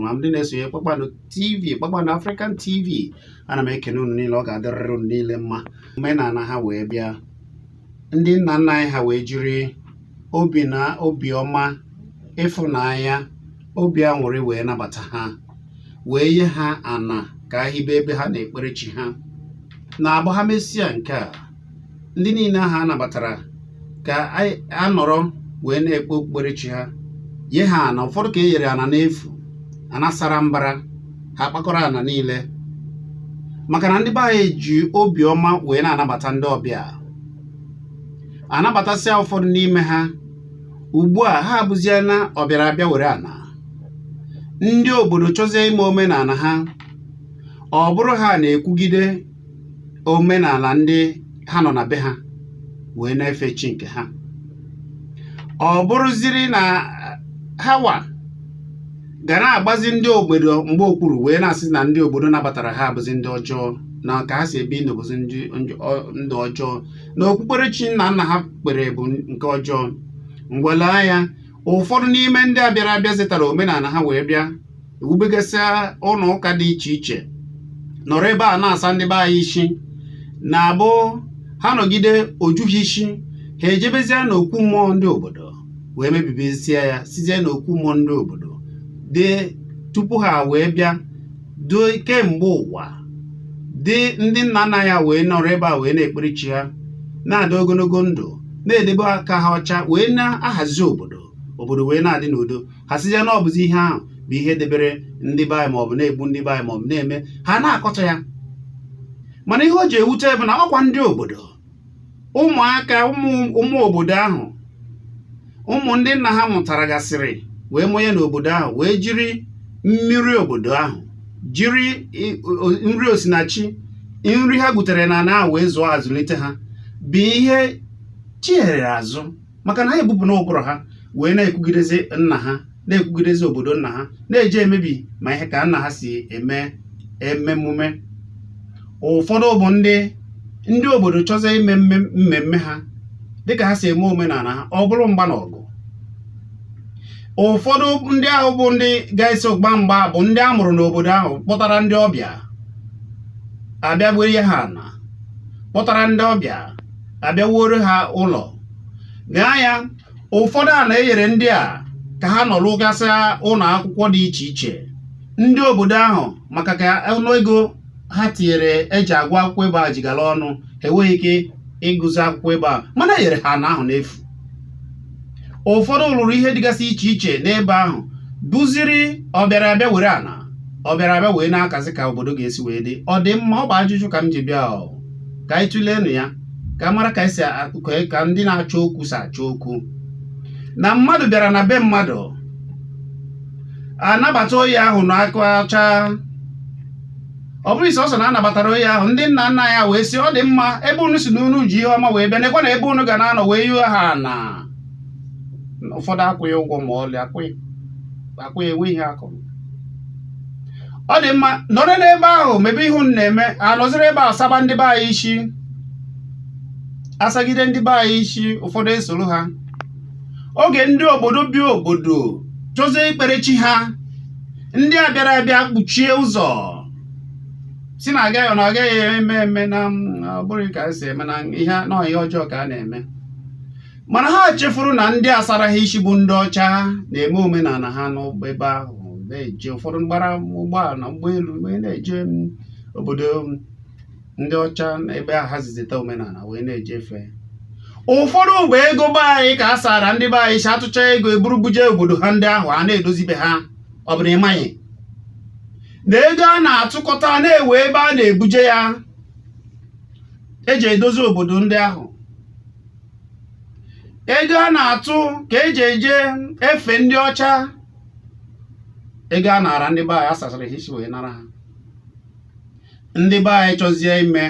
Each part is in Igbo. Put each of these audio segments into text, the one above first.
ma ndị na-esonye kpakpando tv kpakpando african tv ana m ekene unu niile ọ ga-adịrịrị unu niile mma omenala ha wee bịa ndị nna nna anyị ha wee jiri obi na obiọma ịfụnanya obi aṅụrị wee nabata ha wee nye ha ana ka ha hibe ebe ha na-ekpere chi ha na-abụ ha mesịa nke a ndị niile ahụ a nabatara ka a nọrọ wee na-ekpe okpukperechi ha ye ha ana ụfọdụ ka e nyere ana n'efu ana sara mbara ha akpakọrọ ana niile maka na ndị be anyị ji obiọma wee na-anabata ndị ọbịa anabatasịa ụfọdụ n'ime ha ugbu a ha abụzie na ọbịara abịa were ana ndị obodo chọzie ime omenala ha ọ bụrụ ha na-ekwugide omenala ndị ha nọ na be ha wee na-efe chi nke ha ọ bụrụziri na hawa ga na-agbazi ndị obodo mgba okpuru wee na-asị na ndị obodo nabatara ha abụzi ndị ọjọọ na ka ha si ebi ndụ bụzi ndụ ọjọọ na okpukperechi nna nna ha kpere bụ nke ọjọọ ngwa lee anya ụfọdụ n'ime ndị a bịara abịa zetara omenala ha wee bịa ewubegasịa ụlọ ụka dị iche iche nọrọ ebe a na-asa ndị be anyị isi na-abụ ha nọgide o ju ha isi ha ejebezie n'okwu mmụọ ndị obodo wee mebibezie ya sịzie na okwu mmụọ ndị obodo dị tupu ha wee bịa dị kemgbe ụwa dị ndị nna nna anyị ha wee nọrọ ebe a wee na-ekpere chi ha na-adị ogologo ndụ na-edebe aka ha ọcha wee na-ahazi obodo obodo wee na-adị n'udo ha sịzie na ọ bụzi ihe ahụ bụ ihe debere ndị be anyị maọbụ na-egbu ndị be anyị maọbụ na-eme ha na-akọcha ya mana ihe o ji ewute bụ na ọkwa ndị obodo ụmụaka ụmụ obodo ahụ ụmụ ndị nna ha mụtara gasịrị wee mụnye n'obodo ahụ wee jiri mmiri obodo ahụ jiri nri osinachi nri ha gwutere n'ana ahụ wee zụọ azụlite ha bụ ihe chihere azụ maka na ha ebupụna ụbụrụ ha wee na-ekwugidezi nna ha na-ekwugidezi obodo nna ha na-eje emebi ma ihe ka nna ha si eme emume ụfọdụ bụ ndị ndị obodo chọzie ime mmemme ha dịka ha si eme omenala ha ọ bụrụ mgba na ọgụ ụfọdụ ndị ahụ bụ ndị ga-eso gba mgba bụ ndị a mụrụ n'obodo ahụ kpọtara ndị ọbịa abịa beere ha ana kpọtara ndị ọbịa abịa wuoro ha ụlọ gaa ya ụfọdụ ana enyere ndị a ka ha nọrọ rụgasị ụlọ akwụkwọ dị iche iche ndị obodo ahụ maka ka ọnụ ego ha tinyere eji agụ akwụkwọ ebe a ji gala ọnụ ha enweghị ike ịgụzi akwụkwọ ebe ahụ mana enyere ha ana ahụ n'efu ụfọdụ lụrụ ihe dịgasị iche iche n'ebe ahụ bụziri ọbịara abịa were ana ọbịara abịa wee na-akazi ka obodo ga-esi wee dị ọ dị mma ọ bụ ajụjụ ka m ji bịa ka anyị tụleenụ ya ka a mara ka esi ka ndị na-achọ okwu si achọ okwu na mmadụ bịara na be mmadụ anabata onye ahụ na aka ọcha ọ bụrụ isi ọsọ na anabatara onye ahụ ndị nna nna ya wee sị ọ dị mma ebe unu si na unu ji ihe ọma wee bịa nekwanụ ebe unu ga na-anọ wee nye ha na ụfọdụ akwụghị ụgwọ ma ọlị akwụghị akwụghị enwe ihe akwụrụ ọ dị mma nọrọ n'ebe ahụ mebe ihe unu na-eme anọziri ebe ahụ saba ndị be anyị isi asagide ndị be anyị isi ụfọdụ esoro ha oge ndị obodo bi obodo chọzie ikpere chi ha ndị a bịara abịa kpuchie ụzọ si na agaghị na agaghị eme eme na ọ bụrọ ka esi eme na ihe n'ọhịa ọjọọ ka a na-eme mana ha chefuru na ndị asara ha isi bụ ndị ọcha na-eme omenala ha n'ebe ahụ na-eje ụfọdụ gbara ụgbọala ụgbọelu wee na-eje obodo ndị ọcha ebe a ha zizita omenala wee na-eje efe ụfọdụ bụ ego be anyị ka a sara ndị be anyị isi atụcha ego eburu buje obodo ha ndị ahụ a na-edozi be ha ọ bụrụ ịmaghị na ego a na-atụkọta na enwe ebe a na-ebuje ya eji edozi obodo ndị ahụ ego a na-atụ ka eji eje efe ndị ọcha ego a nara ndị be anyị asasara ha isi wee nara ha ndị be anyị chọzie ime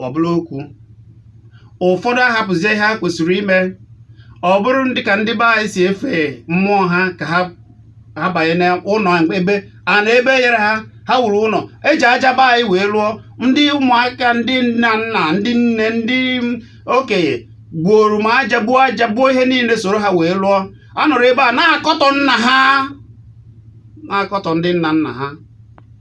ọ bụrụ okwu ụfọdụ ahapụzie ihe ha kwesịrị ime ọ bụrụ ndị ka ndị be anyị si efe mmụọ ha ka ha banye n'ụnọ ebe a na ebe enyere ha ha wuru ụnọ eji aja be anyị wee lụọ ndị ụmụaka ndị nna nna ndị nne ndị okenye buoro ma aja buo aja buo ihe niile soro ha wee lụọ a nọrọ ebe a na-akọtọ nna ha na-akọtọ ndị nna nna ha